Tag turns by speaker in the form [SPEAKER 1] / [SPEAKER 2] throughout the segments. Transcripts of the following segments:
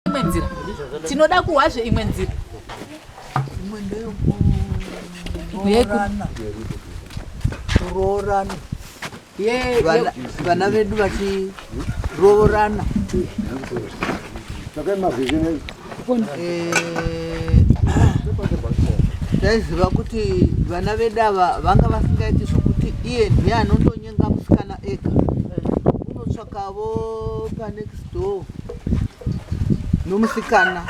[SPEAKER 1] imwe nzira tinoda kuhwazve imwe nzira
[SPEAKER 2] kuroorana vana vedu vachiroorana taiziva eh, kuti vana vedu ava vanga vasingaiti zvokuti iye ndiye anondonyenga musikana ega kavo kanext door nomusikana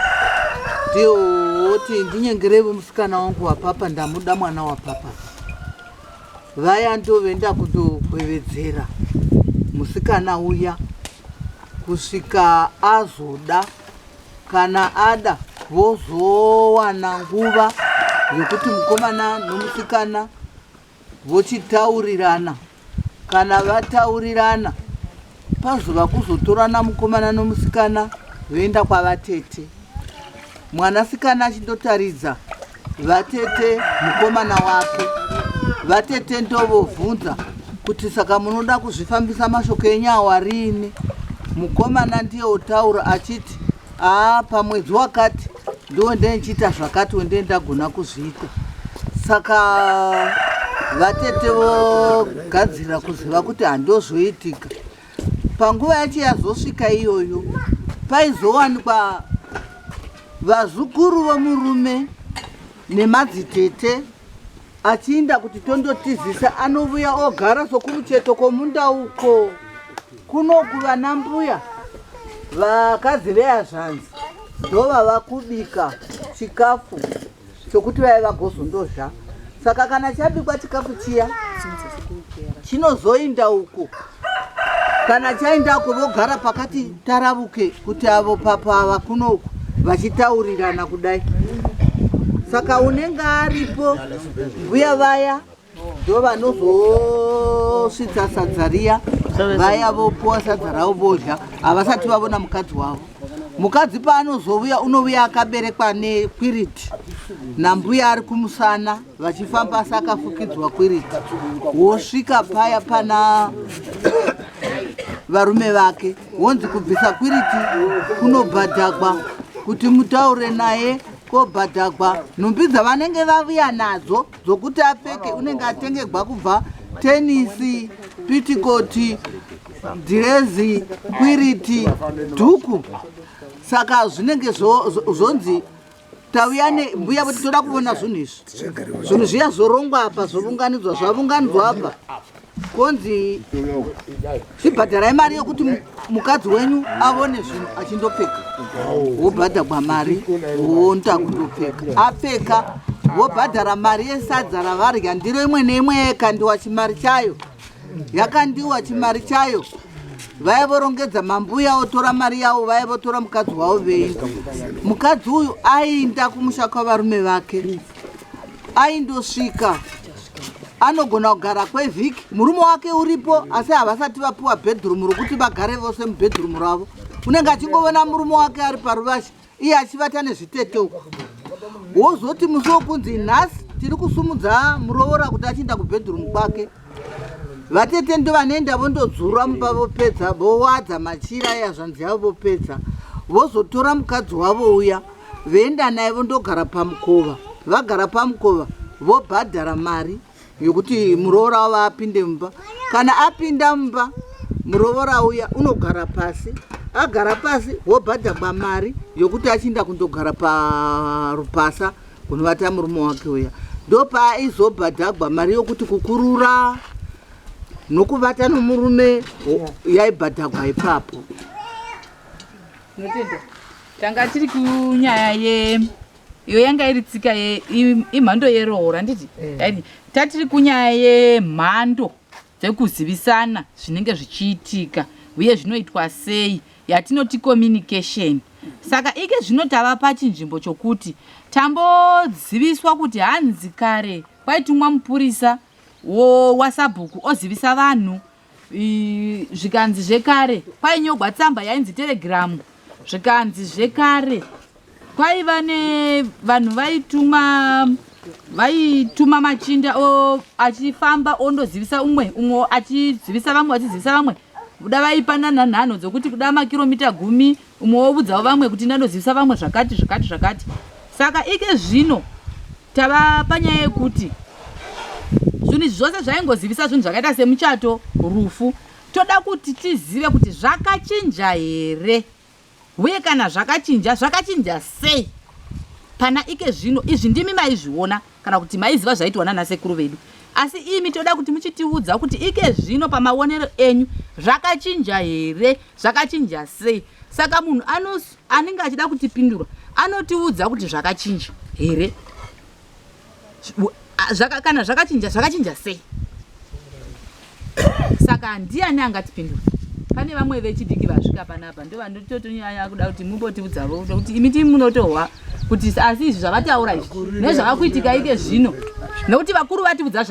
[SPEAKER 2] ndioti ndinyengerevo musikana wangu wapapa ndamuda mwana wapapa vaya ndovenda kundokwevedzera musikana uya kusvika azoda kana ada vozowana nguva yekuti mukomana nomusikana vochitaurirana kana vataurirana pazova kuzotorana mukomana nomusikana voenda kwavatete mwanasikana achindotaridza vatete mukomana wake vatete ndovovhunza kuti saka munoda kuzvifambisa mashoko enyu awarini mukomana ndiye otaura achiti haa pamwedzi wakati ndiwo ndendichiita zvakati wendee ndagona kuzviita saka vatete vogadzirira kuziva kuti handozoitika panguva yacho yazosvika iyoyo paizowanikwa vazukuru vomurume nemadzitete achiinda kuti tondotizisa anovuya ogara sokumucheto kwomunda uko kunokuva nambuya vakadzi veazvanzi ndova vakubika chikafu chokuti vave vagozondozva saka kana chabikwa chikafu chiya chinozoinda uko kana chaendako vogara pakati taravuke kuti avo papa ava kunoku vachitaurirana kudai saka unenge aripo mbuya vaya ndo vanozosvitsa sadza riya vaya vopuwa sadza ravo vodya havasati vavona mukadzi wavo mukadzi paanozovuya unovuya akaberekwa nekwiriti nambuya ari kumusana vachifamba asi akafukidzwa kwirika wosvika paya pana varume vake wonzi kubvisa kwiriti kunobhadhagwa kuti mutaure naye kobhadhagwa nhumbi dzavanenge vavuya nadzo dzokuti apfeke unenge atengegwa kubva tenisi pitikoti dhirezi kwiriti dhuku saka zvinenge zvonzi tauya nembuya voti toda kuvona zvinhu izvi zvinhu zviya zvorongwa apa zvovunganidzwa zvavunganidzwa apa konzi zvibhadharai mari yokuti mukadzi wenyu avone zvinhu achindopfeka wobhadhagwa mari wonta kundopfeka apfeka wobhadhara mari yesadza ravarya ndiro imwe neimwe yekandiwa chimari chayo yakandiwa chimari chayo vaya vorongedza mambuya votora mari yavo vaya votora mukadzi wavo veinda mukadzi uyu ainda kumusha kwavarume vake aindosvika anogona kugara kwevhiki murume wake uripo asi havasati vapiwa bedroom rokuti vagare vose mubedroom ravo unenge achingovona murume wake ari paruvasha iye achivata nezvitete uku wozoti musi wokunzi nhasi tiri kusumudza muroora kuti achienda kubedroom kwake vatete ndo vanoenda vondodzura mumba vopedza vowadza machira yazvanzi yavo vopedza vozotora mukadzi wavo uya voenda naye vondogara pamukova vagara pamukova vobhadhara mari yokuti muroora wavo apinde mumba kana apinda mumba muroora uya unogara pasi agara pasi wobhadhagwa mari yokuti achiinda kundogara parupasa kunovata murume wake uya ndopaizobhadhagwa mari yokuti kukurura nokuvata nomurume yaibhadhagwa ipapo
[SPEAKER 1] tanga tiri kunyaya ye iyo yanga iri tsika imhando yeroora handiti eh. tatiri kunyaya yemhando dzekuzivisana zvinenge zvichiitika uye zvinoitwa sei yatinoti communication saka ike zvino tava pachinzvimbo chokuti tamboziviswa kuti hanzi kare kwaitumwa mupurisa wasabhuku ozivisa vanhu zvikanzi zvekare kwainyogwa tsamba yainzi telegiramu zvikanzi zvekare kwaiva nevanhu vaituma vaituma machinda achifamba ondozivisa umwe umwe achizivisa vamwe vachizivisa vamwe kuda vaipanana nhano dzokuti kuda makiromita gumi umwe wovudzawo vamwe kuti ndanozivisa vamwe zvakati zvakati zvakati saka ike zvino Tava panyaya yekuti zvinhu izvi zvose zvaingozivisa zvinhu zvakaita semuchato, rufu. Toda kuti tizive kuti zvakachinja here uye kana zvakachinja, zvakachinja sei pana ike zvino. Izvi ndimi maizviona kana kuti maiziva zvaitwa nana sekuru vedu, asi imi toda kuti muchitiudza kuti ike zvino pamaonero enyu zvakachinja here, zvakachinja sei. Saka munhu anos anenge achida kutipindura anotiudza kuti zvakachinja here zvaka, kana zvakachinja zvakachinja sei saka ndiani angatipindura pane vamwe vechidiki vasvika panapa ndo vandototonyanya kuda kuti mumbotiudzavo kuti imi ti munotohwa kuti asi izvi zvavataura izvi nezvava kuitika ike zvino nekuti vakuru vatiudza